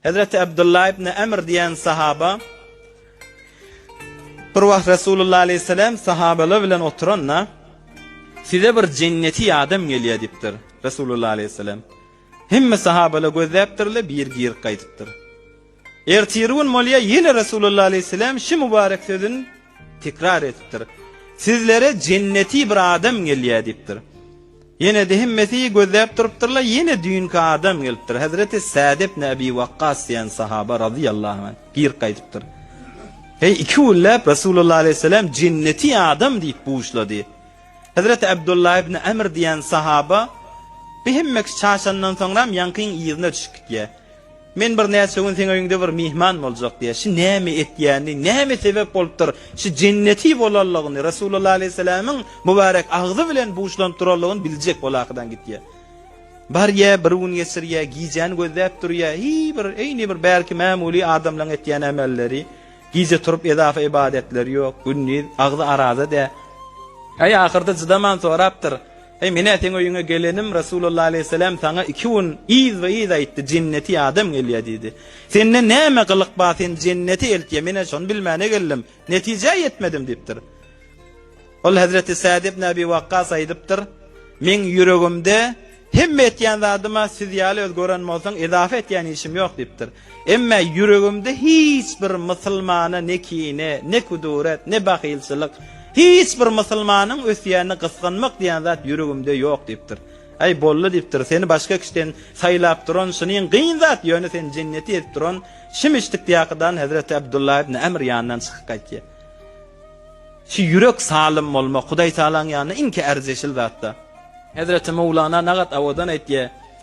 Hezreti Abdullah ibn Amr diýen sahaba bir wagt Resulullah aleyhisselam sahabalar bilen oturanda size bir jenneti ýadam gelýär diýipdir Resulullah aleyhisselam. Hemme sahabalar gözläpdirler, bir gir gaýdypdyr. Ertiri gün bolýa ýene Resulullah aleyhisselam şu mübarek sözün tekrar edipdir. Sizlere jenneti bir adam gelýär diýipdir. Ýene-de hemmesi gözläp durupdyrlar, ýene düýnki adam gelipdir, hezreti Sad ibn Abi Wakkas diýen sahaba razyýallahu anh gir gaýdypdyr. Heý, iki günläp Resulullah aleýhissalam jenneti adam diýip buşlady. Hezreti Abdullah ibn Amr diýen sahaba, Bi hemmeki çaşandan soňram ýaňkyň yzyna düşüp gitýär. Men birnäçe gün seň öýüňde bir myhman boljak diýýär. Şu näme etýäni, näme sebäp bolupdyr, şu jenneti bolanlygyny, Resulalla alaýhyssalamyň mübarek agzy bilen buşlanyp duranlygyny biljek bol ahydan gitýär. Barýar, bir gün geçirýär, gijäni gözläp durýar, hi bir, eýni bir bärki mämuly adamlaryň etýän emelleri, gije turup edafa ybadatleri ýok, gündiz agzy araza dä. Äý, ahyrda cydaman sorapdyr. Eý, men-ä seň öýüňe gelenim, Resulalla aleýhisselam saňa iki gün yzba-yz aýtdy, Jenneti adam gelýär diýdi. Sende näme gylyk bar, seni jennete eltýär, men-ä şony bilmäne geldim, netijä ýetmedim diýipdir. Ol hezreti Sad ibn Abi Wakkas aýdypdyr, Meň ýüregimde, Hemme etýän zadyma siz ýaly öz gören bolsaň, ezafa etýän işim ýok diýipdir. Emme ýüregimde hiç bir mysylmana ne kine, ne kuduret, ne bahylçylyk, hiç bir mysylmanyň ösýänini gysganmak diýen zat ýüregimde ýok diýipdir. Äý, boldy diýipdir, seni başga kişiden saýlap duran şunyň gyn zat, ýöne seni jenneti edip duran Şimişdikdýakydan hezreti Abdullah ibn Amr ýanyndan çykyp gaýtýa. Şu ýürek salym bolmak Hudaýtagalaň ýanynda iňki ärjeşil zat-da. Hezreti Mowlana Nagat Awadan aýtýa,